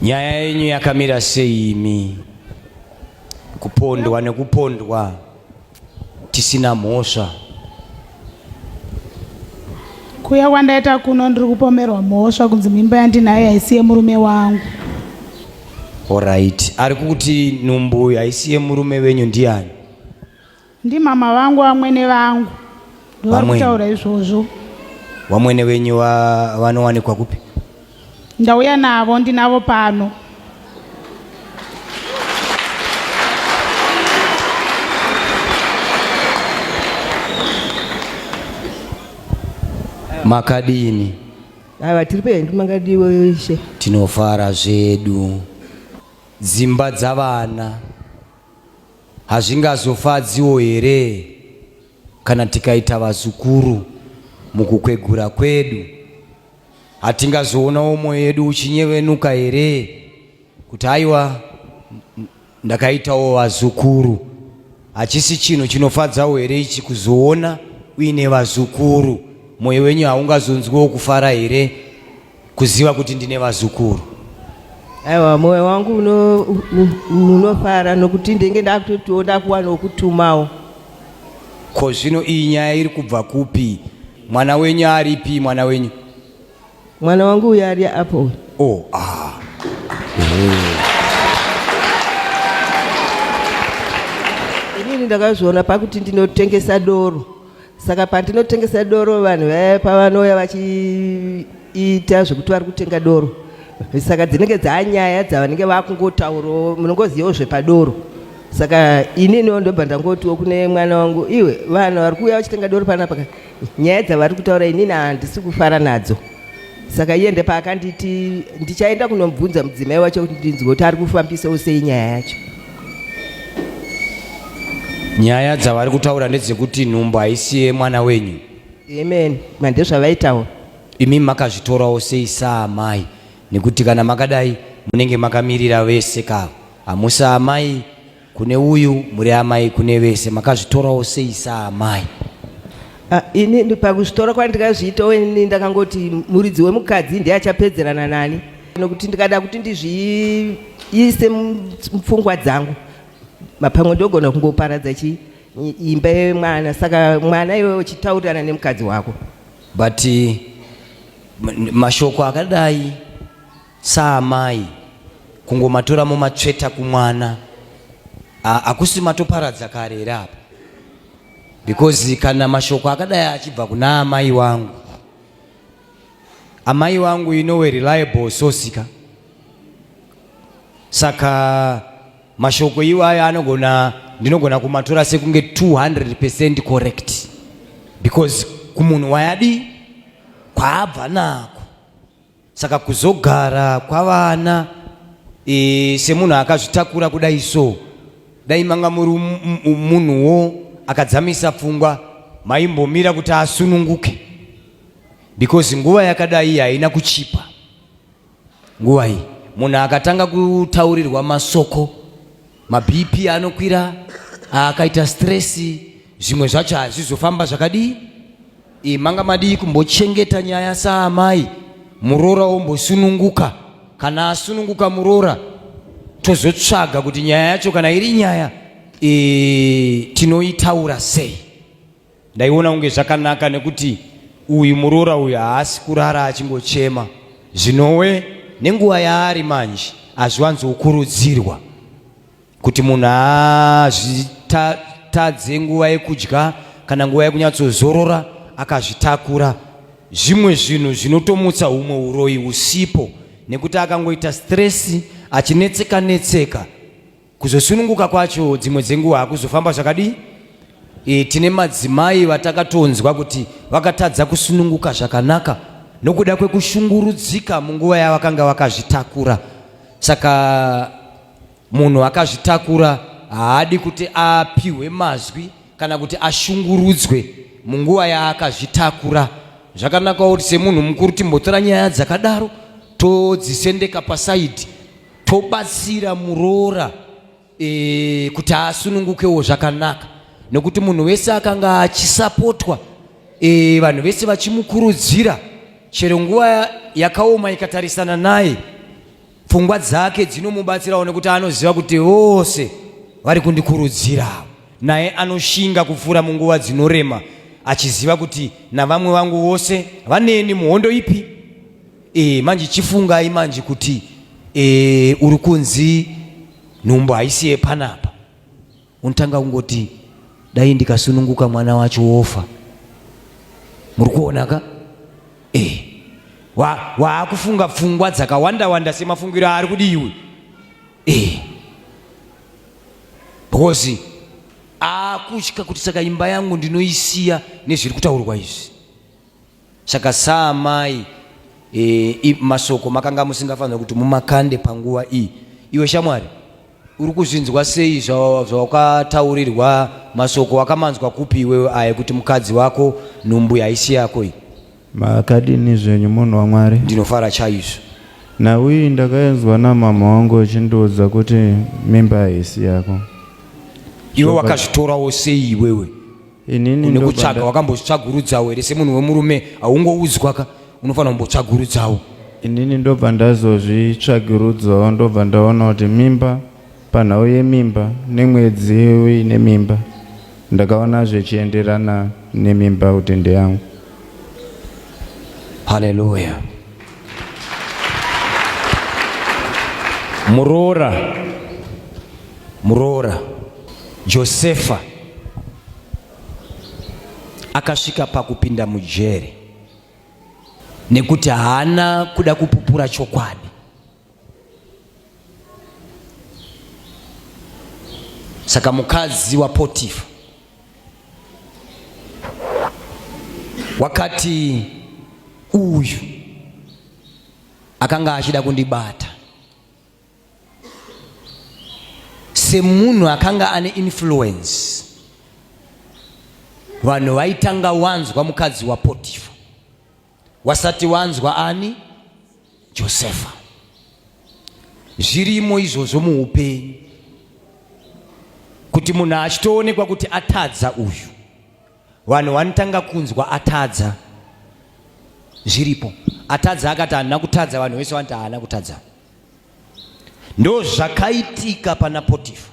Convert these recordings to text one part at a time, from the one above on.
Nyaya yenyu yakamira sei imi? Kupondwa nekupondwa tisina mhosva. Kuya kwandaita kuno ndiri kupomerwa mhosva kunzi mimba yandinayo haisi yemurume wangu. Alright. Ari kuti nhumbu haisi yemurume wenyu ndiani? Ndimama vangu vamwene vangu ndovari kutaura izvozvo. Vamwene venyu vanowanikwa kupi? Ndauya navo, ndinavo pano. Makadini? Ava tiri pedu makadiwo ishe. Tinofara zvedu. Dzimba dzavana Hazvingazofadziwo here kana tikaita vazukuru mukukwegura kwedu? Hatingazoonawo mwoyo yedu uchinyevenuka here kuti aiwa ndakaitawo vazukuru? Hachisi chinhu chinofadzawo here ichi kuzoona uine vazukuru? Mwoyo wenyu haungazonzwiwo kufara here? kuziva kuti ndine vazukuru aiwa moyo wangu unofara nokuti ndenge ndakutotiwo ndakuwana wokutumawo ko zvino iyi nyaya iri kubva kupi mwana wenyu aripi mwana wenyu mwana wangu uyo ari apo oh, ah. inini ndakazviona pakuti ndinotengesa doro saka pandinotengesa doro vanhu vaya pavanouya vachiita zvekuti vari kutenga doro saka dzinenge dzanyaya dzavanenge vakungotaurawo munongozivawo zvepadoro saka ininiwo ndobva ndangotiwo kune mwana wangu iwe vanhu vari kuuya vachitenga doro panapa nyaya dzavari kutaura inini handisi kufara nadzo saka iye ndepaakanditi ndichaenda kunobvunza mudzimai wacho kuti ndinzwe kuti ari kufambisawo sei nyaya yacho nyaya dzavari kutaura ndedzekuti nhumbu haisi yemwana wenyu amen mandezvavaitaura imi makazvitorawo sei saamai nekuti kana makadai munenge makamirira vese ka hamusi amai kune uyu muri amai kune vese makazvitorawo sei saamai Ah, ini ndi- pakuzvitora kwandikazviita ini ndakangoti muridzi wemukadzi ndiye achapedzerana nani nokuti ndikada kuti ndizviise mupfungwa dzangu mapamwe ndogona kungoparadza chii imba yemwana saka mwana iwe uchitaurirana nemukadzi wako but eh, mashoko akadai saamai kungomatora momatsveta kumwana hakusi matoparadza kare here apa because kana mashoko akadai achibva kuna amai wangu Amai vangu you know a reliable source ka. Saka mashoko iwaya anogona ndinogona kumatora sekunge 200% correct because kumunhu wayadi kwaabva nako saka kuzogara kwavana e, semunhu akazvitakura kudai so dai manga muri munhuwo akadzamisa pfungwa maimbomira kuti asununguke because nguva yakadai iyi haina kuchipa nguva iyi munhu akatanga kutaurirwa masoko mabp anokwira akaita stress zvimwe zvacho hazvizofamba zvakadii iyi manga madii kumbochengeta nyaya saamai muroora wombosununguka kana asununguka muroora tozotsvaga kuti nyaya yacho kana iri nyaya e, tinoitaura sei Ndaiona kunge zvakanaka nekuti uyu muroora uyu haasi kurara achingochema zvinowe nenguva yaari manje hazviwanzokurudzirwa kuti munhu azvitadze nguva yekudya kana nguva yekunyatsozorora akazvitakura zvimwe zvinhu zvinotomutsa humwe uroyi husipo nekuti akangoita stresi achinetseka netseka Kuzosununguka kwacho dzimwe dzenguva hakuzofamba zvakadii? E, tine madzimai vatakatonzwa kuti vakatadza kusununguka zvakanaka nokuda kwekushungurudzika munguva yavakanga vakazvitakura. Saka munhu akazvitakura haadi kuti apihwe mazwi kana kuti ashungurudzwe munguva yaakazvitakura. Zvakanaka kuti semunhu mukuru timbotora nyaya dzakadaro todzisendeka pasaidhi tobatsira muroora e, kuti asunungukewo zvakanaka nekuti munhu wese akanga achisapotwa e, vanhu vese vachimukurudzira chero nguva yakaoma ikatarisana naye pfungwa dzake dzinomubatsirawo nekuti anoziva kuti vose vari kundikurudzirawo naye anoshinga kupfuura munguva dzinorema achiziva kuti navamwe vangu vose vaneni muhondo ipi E, manje chifungai manje kuti e, uri kunzi nhumbu haisi yepanapa, unotanga kungoti dai ndikasununguka mwana wacho wofa. Muri kuona ka? E, waakufunga wa pfungwa dzakawanda wanda semafungiro aari kudi iwe e, because akutya kuti saka imba yangu ndinoisiya nezviri kutaurwa izvi Saka saamai e, masoko makanga musingafanira kuti mumakande panguva iyi. Iwe shamwari uri kuzvinzwa sei zvawakataurirwa masoko wakamanzwa kupi iwewe aya kuti mukadzi wako nhumbu haisi yako iyi? Makadini zvenyu munhu waMwari? Ndinofara chaizvo. Nhau iyi ndakainzwa namama wangu achindiudza kuti mimba haisi yako. Iwe wakazvitorawo sei iwewe? inini une kutsvaga wakambozvitsvagurudzawo here semunhu wemurume haungoudzwa ka unofanira kumbotsvagurudzawo inini ndobva ndazozvitsvagurudzawo ndobva ndaona kuti mimba panhau yemimba nemwedzi uine mimba ndakaona zvichienderana nemimba kuti ndeyangu haleluya muroora muroora Josefa akasvika pakupinda mujeri nekuti haana kuda kupupura chokwadi. Saka mukadzi waPotifa wakati uyu akanga achida kundibata semunhu akanga ane influence vanhu vaitanga wanzwa mukadzi wapotifa wasati wanzwa ani josefa zvirimo izvozvo muupenyu kuti munhu achitoonekwa kuti atadza uyu vanhu vanotanga kunzwa atadza zviripo atadza akati haana kutadza vanhu vese vanoti haana kutadza Ndozvakaitika pana Potifa.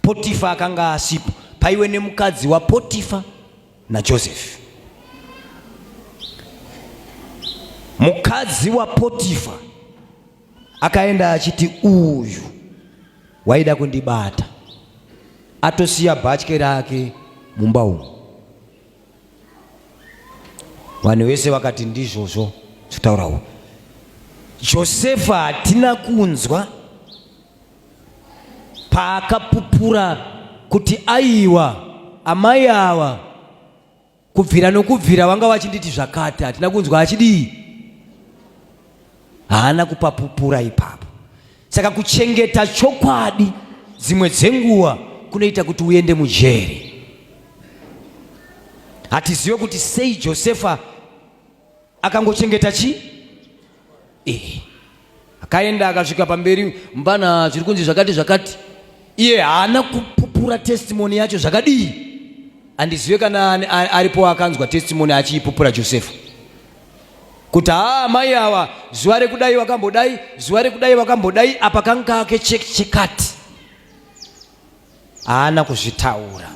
Potifa akanga asipo, paiwe nemukadzi waPotifa naJosefi. Mukadzi waPotifa akaenda achiti uyu waida kundibata, atosiya bhatye rake mumba umu. Vanhu vese vakati ndizvozvo zvitaurawo. Josefa hatina kunzwa paakapupura kuti aiwa amai ava kubvira nokubvira vanga vachinditi zvakati hatina kunzwa achidii haana kupapupura ipapo. Saka kuchengeta chokwadi dzimwe dzenguva kunoita kuti uende mujeri. Hatizive kuti sei Josefa akangochengeta chi eh, akaenda akasvika pamberi mbana zviri kunzi zvakati zvakati, iye haana kupupura testimoni yacho zvakadii. Handizive kana aripo akanzwa testimoni achiipupura Josefa. kuti haa amai awa zuva rekudai wakambodai zuva rekudai wakambodai apa kanga kake chekati haana kuzvitaura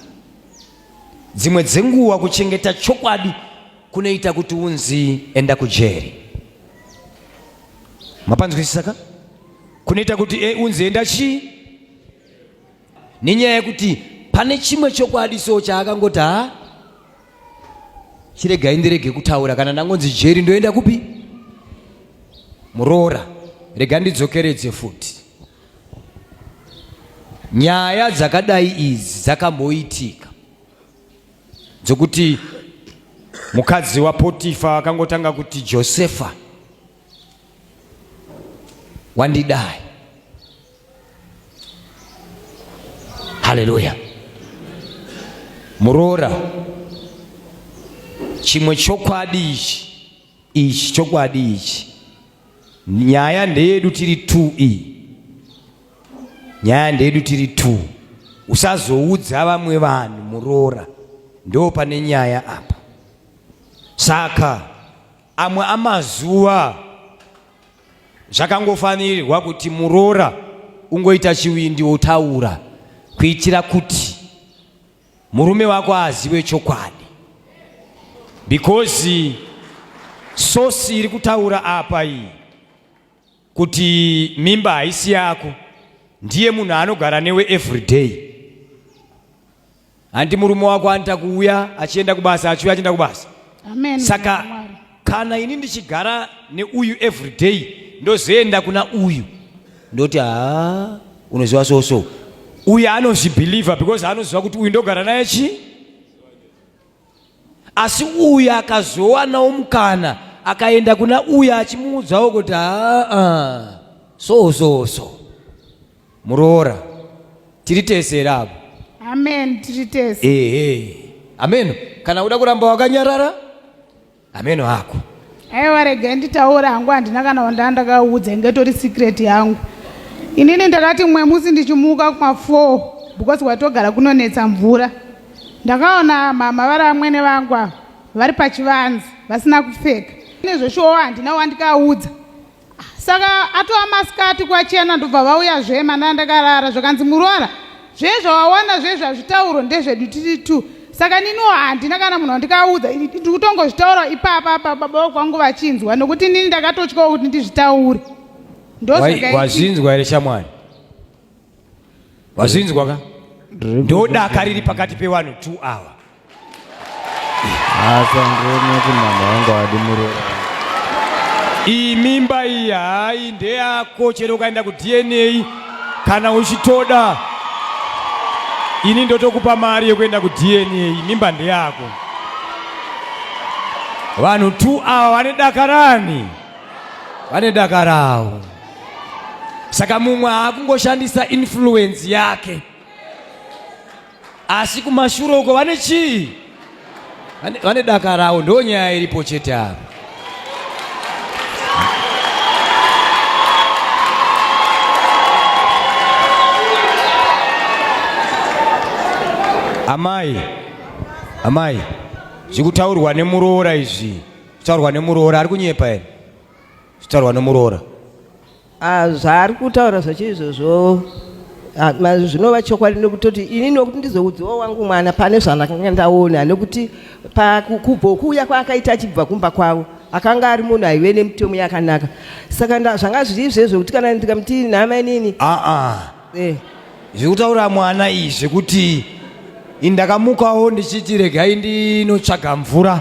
dzimwe dzenguva kuchengeta chokwadi kunoita kuti unzi enda kujeri mapanzwisisa ka kunoita kuti e, unzi enda chii nenyaya yekuti pane chimwe chokwadi so chaakangoti ha chiregai ndirege kutaura kana ndangonzi jeri ndoenda kupi muroora rega ndidzokeredze futi nyaya dzakadai idzi dzakamboitika dzokuti mukadzi wapotifa akangotanga kuti josefa wandidai. Haleluya! Muroora, chimwe chokwadi ichi ichi chokwadi ichi, nyaya ndeyedu tiri tu iyi nyaya ndedu tiri two usazoudza vamwe vanhu muroora ndo pane nyaya apa saka Amwe amazuva zvakangofanirwa kuti muroora ungoita chivindi wotaura kuitira kuti murume wako azive chokwadi because sosi iri kutaura apa iyi kuti mimba haisi yako ndiye munhu anogara newe everyday handi murume wako anoita kuuya achienda kubasa achiuya achienda kubasa Amen. saka kana ini ndichigara neuyu everyday ndozoenda kuna uyu ndoti haa unoziva so so uyu anozvibhilivha because anoziva kuti uyu ndogara naye chii asi uyu akazowanawo mukana akaenda kuna uyu achimuudzawo kuti aa so so so muroora tiri tese here apo amen tiri tese ehe ameno kana uda kuramba wakanyarara Hameno hako. Aiwa rega nditaura hangu handina kana wandandakaudza inge tori secret yangu. Inini ndakati mwe musi ndichimuka kuma 4 because watogara kunonetsa mvura. Ndakaona mama vari amwene vangu ava vari pachivanzi vasina kupfeka. Nezveshowa handina wandikaudza. saka atova masikati kwachena ndobva vauya zve manana ndakarara zvakanzi murwara zvezvawawana zvezvo hazvitaurwa ndezvedu tiri two saka niniwo handina kana munhu wandikaudza ndiri kutongozvitaura ipapa apa baba vakwangu vachinzwa nokuti nini ndakatotyawo kuti ndizvitaure ndozvazvinzwa here shamwari wazvinzwa ka ndodaka riri pakati pewanhu two hour iyi mimba iyi hayi ndeyako chero ukaenda kudna kana uchitoda ini ndotokupa mari yekuenda kudna mimba ndeyako vanhu two awa vane dakarani vane dakarawo saka mumwe haakungoshandisa influence yake asi kumashure uko vane chii vane daka rawo ndo nyaya iripo chete ava amai amai zviri kutaurwa nemuroora izvi kutaurwa nemuroora ari kunyepa here zvitaurwa nemuroora ah, zvaari kutaura zvachiri izvozvo ah, zvinova chokwadi nekutoti ini nokuti ndizoudziwa wangu mwana pane zvandakanga ndaona nekuti pakubvo kuuya kwaakaita achibva kumba kwavo akanga ari munhu aive nemitemo yakanaka saka zvanga zviri izvezvo kuti kana ndikamuti nhamainini aa ah, eh. zvekutaura mwana iyi zvekuti ndakamukawo ndichiti regai ndinotsvaga mvura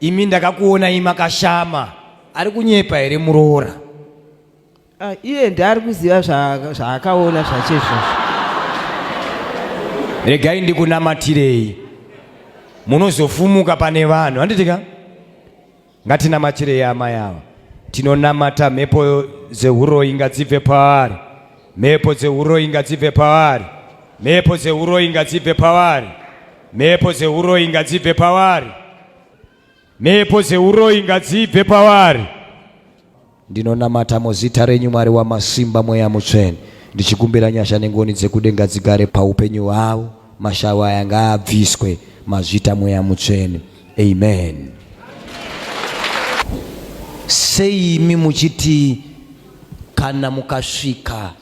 Imi ndakakuonai makashama. Ari kunyepa here muroora? Ah, iye ndaari kuziva zva- zvaakaona zvacho izvozvo. Regai ndikunamatirei. Munozofumuka pane vanhu. Handiti ka? Ngatinamatirei amai ava. Tinonamata mhepo dzehuroyi ngadzibve pavari. Mhepo dzehuroyi ngadzibve pavari. Mhepo dzehuroyi ngadzibve pavari. Mhepo dzeuroyi ngadzibve pavari. Mhepo dzeuroyi ngadzibve pavari. Ndinonamata muzita renyu Mwari wamasimba mweya mutsvene ndichikumbira nyasha nengoni dzekudenga dzigare paupenyu hwavo mashawa aya ngaabviswe mazvita mweya mutsvene amen sei imi muchiti kana mukasvika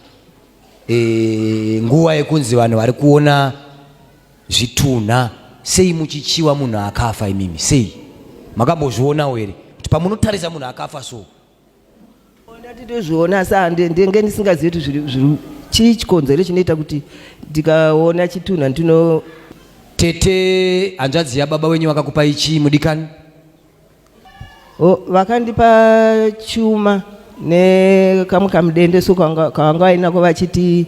e, nguva yekunzi vanhu vari kuona Zvitunha sei muchichiwa munhu akafa imimi sei makambozvionawo here kuti pamunotarisa munhu akafa so ndati tozviona asi ndenge ndisingazivi kuti zviri chii chikonzero chinoita kuti ndikaona chitunha ndino tete hanzvadzi yababa wenyu vakakupai chii mudikani Oh, vakandipa chuma nekamwe kamudendeso kavanga vainako vachiti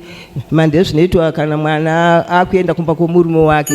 mande zvinoitwa kana mwana akuenda kumba kwomurume wake